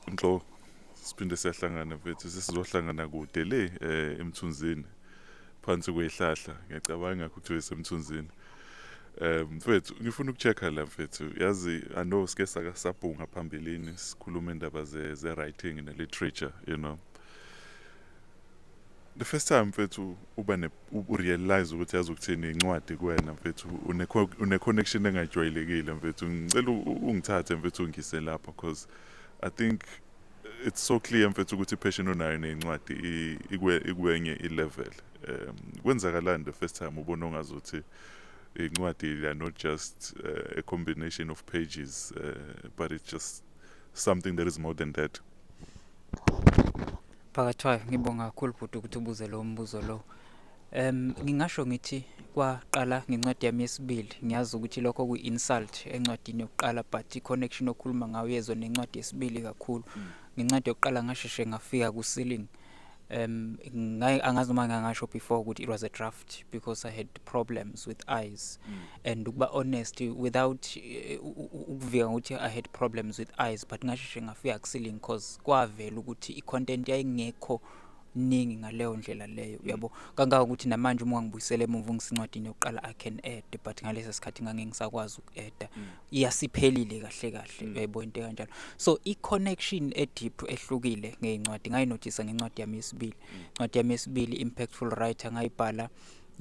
Nhlo siphinde siyahlangana mfethu sesizohlangana kude le eh emthunzini phansi kwehlahla ngiyacabanga ukuthi wesemthunzini eh mfethu ngifuna ukuchecka la mfethu yazi i know sike sakasabhunga phambilini sikhuluma indaba ze ze writing ne literature you know The first time mfethu uba ne u realize ukuthi yazi ukuthini incwadi kuwena mfethu une une connection engajwayelekile mfethu ngicela ungithathe mfethu ungise lapho because i think it's so clear mfethu ukuthi passion onayo nezincwadi ikwe ikwenye i level um kwenzakalani the first time ubona ongazothi incwadi they are not just uh, a combination of pages uh, but it's just something that is more than that Phakathwayo ngibonga kakhulu bhuti ukuthi ubuze lo mbuzo lo. Um ngingasho ngithi kwaqala ngencwadi yami yesibili ngiyazi ukuthi lokho kuyi-insult encwadini yokuqala but i-connection okhuluma ngayo yezwe nencwadi yesibili kakhulu mm. ngencwadi yokuqala ngasheshe ngafika ku-ceiling um angazi noma ngangasho before ukuthi it was a draft left because I had problems with eyes mm. and ukuba honest without eh, ukuvika ukuthi I had problems with eyes but ngasheshe ngafika ku ceiling cause kwavela ukuthi i content yayingekho ningi ngaleyo ndlela leyo mm. uyabo kangaka ukuthi namanje uma ngibuyisele emuva ngisincwadini yokuqala I can add but ngalesa sikhathi ngange ngisakwazi ukuadda mm. iyasiphelile kahle kahle mm. uyayibona into kanjalo so i connection e deep ehlukile ngeincwadi ngayinothisa ngencwadi yami yesibili incwadi yami yesibili impactful writer ngayibhala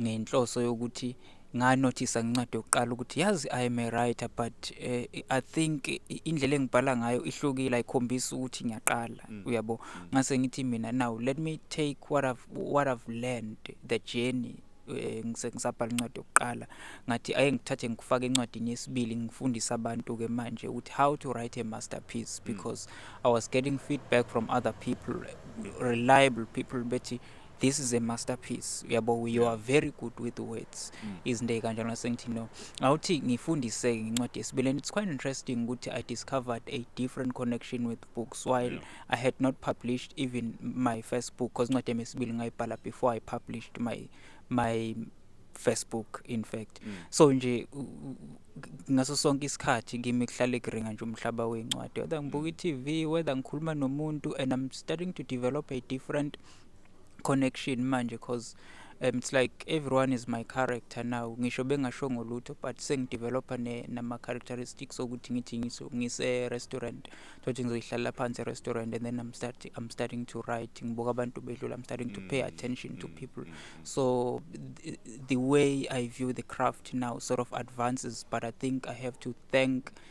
ngenhloso yokuthi nganothisa ngencwadi yokuqala ukuthi yazi i am a writer but uh, i think indlela engibhala ngayo ihlukile ayikhombisi ukuthi ngiyaqala mm. uyabo mm. ngase ngithi mina now let me take what i've what i've learned the journey eh, ngisabhala incwadi yokuqala ngathi aye ngithathe ngikufake encwadini yesibili ngifundise abantu-ke manje ukuthi how to write a masterpiece mm. because mm. i was getting feedback from other people reliable people bethi this is a masterpiece uyabo you are very good with words mm. izinto ey'kanjalo nasengithi no awuthi ngifundise-ke ngencwadi yesibili and it's quite interesting ukuthi i discovered a different connection with books while yeah. I had not published even my first book because incwadi yami yesibili ngayibhala before I published my my first book in fact mm. so nje ngaso sonke isikhathi kimi kuhlale kuringa nje umhlaba wencwadi whether ngibuka mm. i-TV whether ngikhuluma nomuntu and I'm starting to develop a different connection manje cause um, it's like everyone is my character now ngisho bengashongo lutho but sengidevelopha nama-characteristics okuthi ngithi ngise-restaurant thothi ngizoyihlalela phansi e-restaurant and then I'm, start, I'm starting to write ngibuka abantu bedlula I'm starting to pay mm, attention to mm, people mm, so th the way I view the craft now sort of advances but I think I have to thank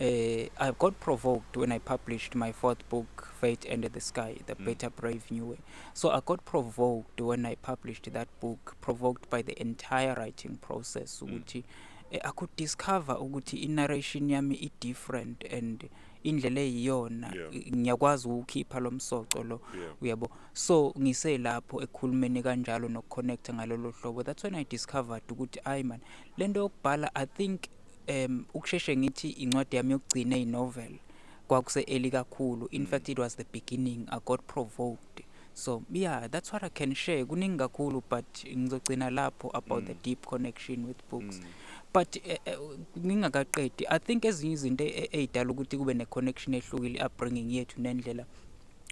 Uh, I got provoked when I published my fourth book, Fate and the Sky, The mm. Better Brave New Way. So I got provoked when I published that book, provoked by the entire writing process. Mm. Ukuthi, eh, I could discover ukuthi i-narration yami i-different and indlela eyiyona ngiyakwazi ukukhipha lo msoco lo uyabo so ngiselapho ekhulumeni kanjalo nokuconnecta ngalolo hlobo that's when i discovered ukuthi ayi man lento yokubhala i think um ukusheshe ngithi incwadi yami yokugcina inovel kwakuse-eli kakhulu in mm. fact it was the beginning i got provoked so yeah that's what i can share kuningi kakhulu but ngizogcina lapho about mm. the deep connection with books mm. but eh, eh, ngingakaqedi uh, uh, i think ezinye izinto e-, e-, ey'dala ukuthi kube ne-connection ehlukile i-upbringing yethu nendlela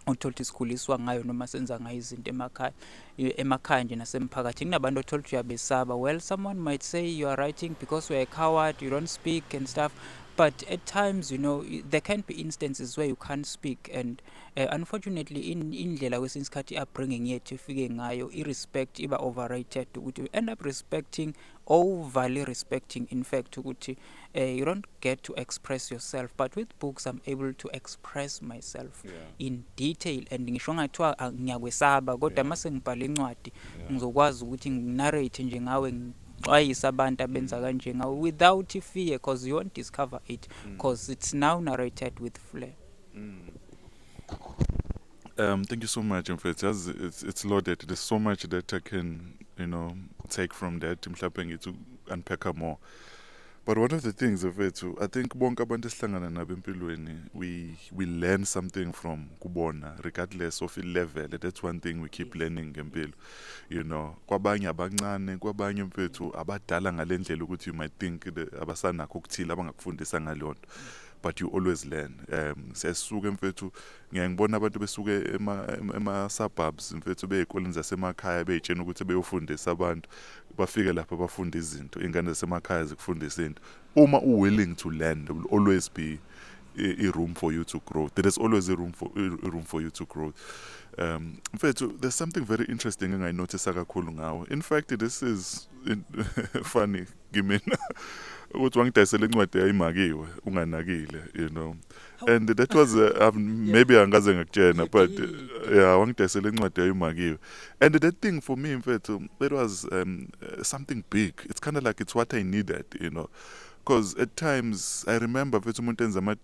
othola ukuthi sikhuliswa ngayo noma senza ngayo izinto emakhaya emakhaya nje nasemphakathini kunabantu othola ukuthi uyabesaba well someone might say you are writing because you are a coward you don't speak and stuff but at times you know there can be instances where you can't speak and uh, unfortunately in indlela kwesinye isikhathi i-upbringing yethu ifike ngayo i-respect iba overrated ukuthi you end up respecting overly respecting in fact ukuthi uh, you don't get to express yourself but with books i'm able to express myself yeah. in detail and ngisho ngathiwa ah, ngiyakwesaba kodwa yeah. mase ngibhala incwadi yeah. ngizokwazi ukuthi nginarrate nje ngawe ngixwayise abantu abenza mm. kanje ngawe without fear because you won't discover it because mm. it's now narrated with flair mm. Um, thank you so much, mfethu. Yazi it's it's loaded. There's so much that I can, you know, take from that. Mhlawumbe ngithi unpack more. But one of the things mfethu I think bonke abantu esihlangana nabo empilweni we we learn something from kubona regardless of level that's one thing we keep learning ngempilo you know kwabanye abancane kwabanye mfethu abadala ngalendlela ukuthi you might think abasanakho ukuthile abangakufundisa ngalonto but you always learn um siyasuka mfethu ngiyaye ngibona abantu besuke ema-suburbs ema mfethu bey'koleni zasemakhaya bey'tshena ukuthi beyofundisa abantu bafike lapha bafunde izinto iy'ngane zasemakhaya zikufundisa into uma u-willing to learn there will always be i-room for you to grow there is always a room for, a room for you to grow um mfethu there's something very interesting engayinothisa kakhulu ngawo in fact this is in, funny kimina ukuthi wangidayisela incwadi yayimakiwe unganakile you know and that was uh, um, maybe angaze ngakutshena but uh, yeah wangidayisela incwadi yayimakiwe and that thing for me mfethu it was um, uh, something big it's kind of like it's what i needed you know because at times i remember mfethu umuntu enza ama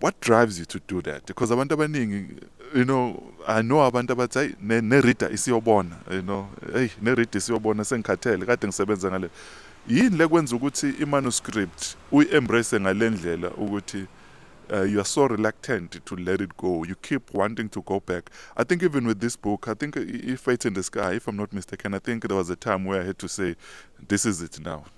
what drives you to do that because abantu abaningi you know i know abantu abathi hayi nerida isiyobona you know hey nerida isiyobona sengikhathele kade ngisebenza ngale yini lekwenza ukuthi imanuscript uyi-embrace ngale ndlela ukuthi uh, you are so reluctant to let it go. You keep wanting to go back. I think even with this book, I think if Fate in the Sky, if I'm not mistaken, I think there was a time where I had to say, this is it now.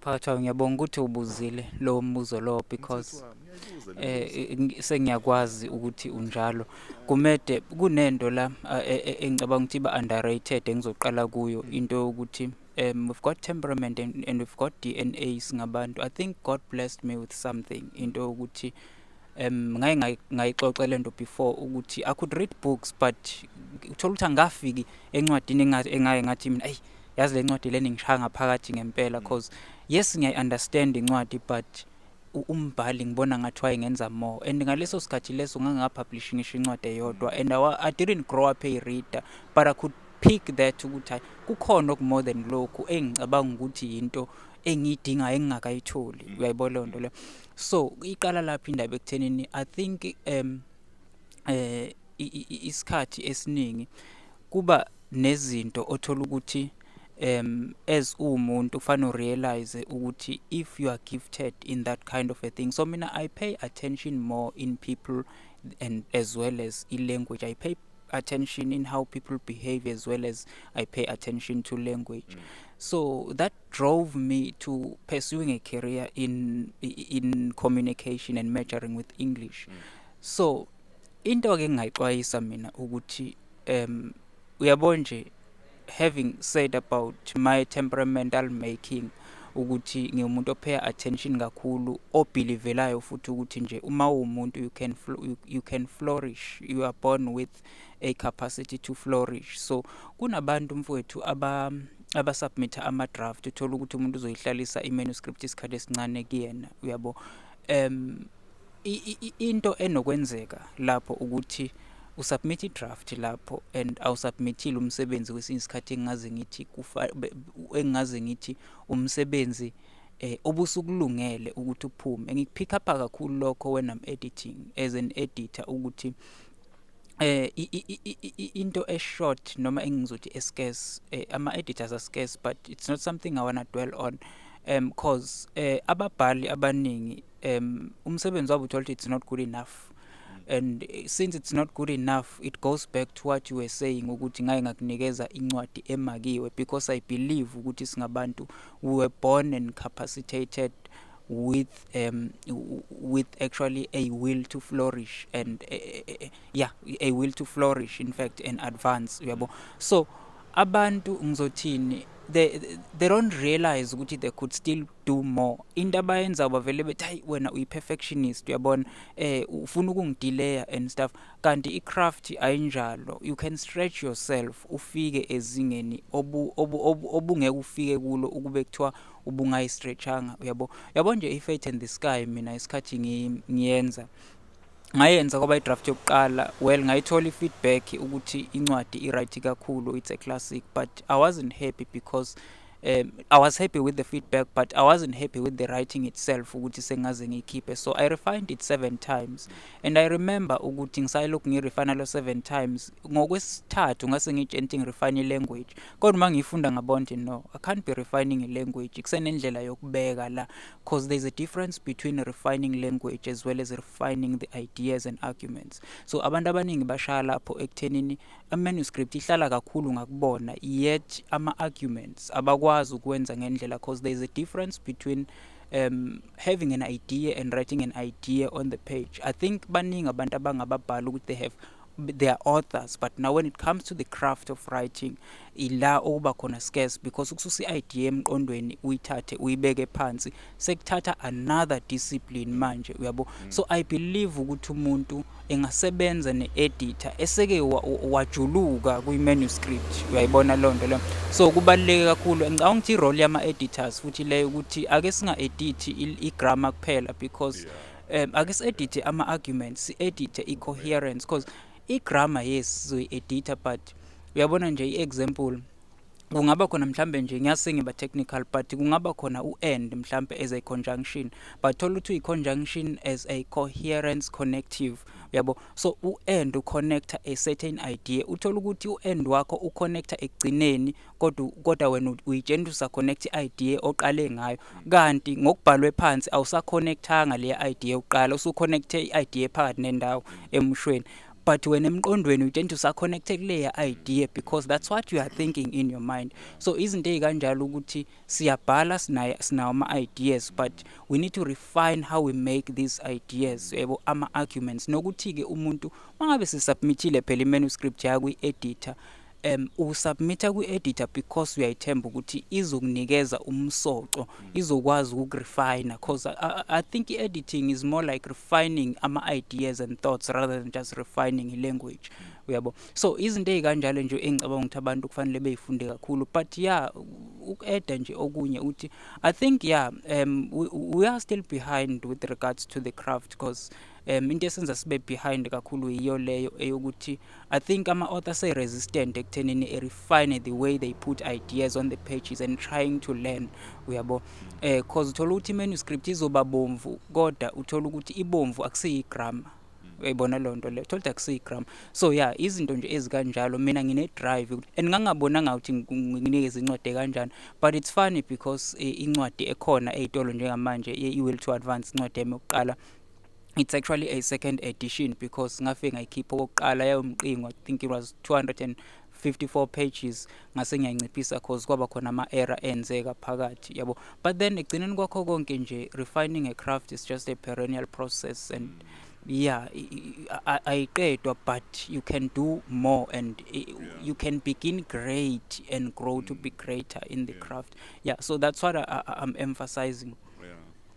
Phakathi kwayo ngiyabonga ukuthi ubuzile lowo mbuzo lowo because sengiyakwazi ukuthi unjalo. Kumede kunento la engicabanga ukuthi iba-underrated engizoqala kuyo into yokuthi we've got temperament and we've got D_N_A singabantu. I think God blessed me with something into yokuthi um ngaye ngayixoxa le nto before ukuthi i could read books but uthole ukuthi angikafiki encwadini engaye ngathi mina eyi yazi le ncwadi le ningishaya ngaphakathi ngempela because yes ngiyayi-understand incwadi but umbhali ngibona ngathi wayengenza more and ngaleso sikhathi leso ngangingapublishi ngisho incwadi eyodwa and I, I didn't grow up a reader but I could pick that ukuthi hayi kukhona okumore than lokhu engicabanga ukuthi yinto engiyidingayo engingakayitholi uyayibona loo nto leyo so iqala lapha indaba ekuthenini i think um eh isikhathi esiningi kuba nezinto othola ukuthi um as uwumuntu kufanele urealize ukuthi if you are gifted in that kind of a thing so mina i pay attention more in people and as well as i-language i pay attention in how people behave as well as i pay attention to language mm. so that drove me to pursuing a career in in communication and majoring with English mm. so into ke ngingayixwayisa mina ukuthi um uyabona nje having said about my temperamental making ukuthi ngiwumuntu opay attention kakhulu obhilivelayo futhi ukuthi nje uma uwumuntu you can you can flourish you are born with a capacity to flourish so kunabantu mfowethu aba abasubmitha ama-draft uthole ukuthi umuntu uzoyihlalisa i-manuscript isikhathi esincane kuyena uyabo um into enokwenzeka lapho ukuthi usubmit i-draft lapho and awusubmithile umsebenzi kwesinye isikhathi engingaze ngithi engingaze ngithi umsebenzi eh obusukulungele ukuthi uphume ngikupick up kakhulu lokho when I'm editing as an editor ukuthi eh into e short noma engizothi e scarce eh, ama editors are scarce but it's not something i wanna dwell on um cause eh ababhali abaningi um umsebenzi wabo uthola it's not good enough and eh, since it's not good enough it goes back to what you were saying ukuthi ngaye ngakunikeza incwadi emakiwe because i believe ukuthi singabantu we were born and capacitated with um with actually a will to flourish and uh, uh, yeah a will to flourish in fact and advance uyabo so abantu ngizothini they they don't realize ukuthi they could still do more into abayenza bavele bethi hayi wena uyi perfectionist uyabona eh ufuna ukungidelaya and stuff kanti i craft ayinjalo you can stretch yourself ufike ezingeni obu obungeke ufike kulo ukube kuthiwa ubungayi stretchanga uyabo yabo nje i fate in the sky mina isikhathi ngiyenza ngayenza kwaba idraft yokuqala well ngayithola ifeedback ukuthi incwadi iright kakhulu it's a classic but i wasn't happy because um, I was happy with the feedback but I wasn't happy with the writing itself ukuthi sengaze ngiyikhiphe so I refined it seven times and I remember ukuthi ngisayilokhu ngirefine lo seven times ngokwesithathu ngase ngitshentshe ngirefine language Kodwa uma ngiyifunda ngabona ukuthi no, I can't be refining language. Kusenendlela yokubeka la because there's a difference between refining language as well as refining the ideas and arguments. So abantu abaningi bashaya lapho ekuthenini ama-manuscript ihlala kakhulu ngakubona yet ama-arguments abakwazi ukwenza ngendlela because there's a difference between um having an idea and writing an idea on the page. I think baningi abantu abangababhala ukuthi they have they are authors but now when it comes to the craft of writing ila okuba khona scarce because ukususa i-idea emqondweni uyithathe uyibeke phansi sekuthatha another discipline manje uyabo mm. so i believe ukuthi umuntu engasebenza ne-editor eseke wajuluka kwi-manuscript uyayibona loo nto leyo so kubaluleke kakhulu ngicabanga ukuthi i-role yama-editors futhi leyo ukuthi ake singa-edithi i-grammar kuphela because yeah. um ake si-edithe ama-argument si-edithe i-coherence because i-grammar yes sizoyi-editha but uyabona nje i-example kungaba khona mhlambe nje ngiyase ngiba technical but kungaba khona u-and mhlambe as a conjunction but thola ukuthi uyi-conjunction as a coherence connective uyabo so u-and uconnecta a certain idea uthole ukuthi u-and wakho uconnecta ekugcineni kodwa kodwa wena uyitshena ukuthi usaconnect i-idea oqale ngayo kanti ngokubhalwe phansi awusaconnectanga le idea yokuqala usuconnecte i-idea phakathi nendawo emushweni but wena emqondweni utshena ukuthi usaconnecte kuleya idea because that's what you are thinking in your mind so izinto ezikanjalo ukuthi siyabhala sinayo sinawo ama ideas but we need to refine how we make these ideas yebo ama arguments nokuthi ke umuntu mangabe sisubmitile phela imanuscript yakwi editor Um u submit kwi editor because uyayithemba ukuthi izokunikeza umsoco izokwazi ukuk refiner cause I, I, I think i editing is more like refining ama ideas and thoughts rather than just refining i language uyabo so izinto ezikanjalo nje engicabanga ukuthi abantu kufanele beyifunde kakhulu but yeah ukueda nje okunye uthi i think yeah um we, we are still behind with regards to the craft because um into esenza sibe behind kakhulu yiyo leyo eyokuthi I think ama-author se-resistant ekuthenini e-refine the way they put ideas on the pages and trying to learn uyabo um eh, cause uthola ukuthi i-manuscript izoba bomvu kodwa uthola ukuthi ibomvu akusiyi-grammar uyayibona loo nto leyo thola akusiyi-grammar so ya izinto nje ezikanjalo mina ngine-drive and ngangabonanga ukuthi nginikeze incwadi ekanjani but it's funny because eh, incwadi ekhona ey'tolo njengamanje i-will to advance incwadi yami yokuqala it's actually a second edition because ngafike ngayikhipha okokuqala yayomqingo i think it was 254 pages ngase ngiyanciphisa cause kwaba khona ama-error enzeka phakathi yabo but then ekugcineni kwakho konke nje refining a craft is just a perennial process and mm. yeah ayiqedwa but you can do more and yeah. you can begin great and grow mm. to be greater in the yeah. craft yeah so that's what I, I, i'm emphasizing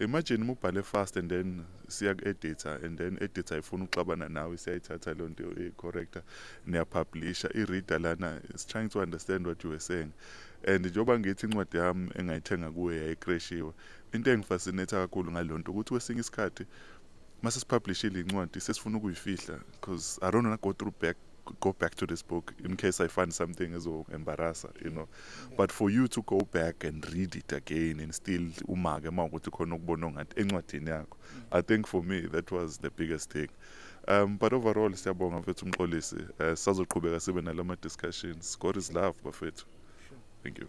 Imagine uma ubhale fast and then siyaku-editha and then editha ayifuni ukuxabana nawe siyayithatha leyo nto i-corrector niyapublisha i-reader lana is trying to understand what you were saying and njengoba ngithi incwadi yami engayithenga kuwe yayikreshiwe into engifascinatha kakhulu ngaleyo nto ukuthi kwesinye isikhathi uma sesipublishile incwadi sesifuna ukuyifihla because i don't wanna go through back go back to this book in case I find something as well embarrass, you know. But for you to go back and read it again and still umake mawukuthi khona okubona ngathi encwadini yakho. I think for me that was the biggest thing. Um but overall siyabonga mfethu umxolisi. Uh, sazoqhubeka sibe nalama discussions. God is love bafethu. Thank you.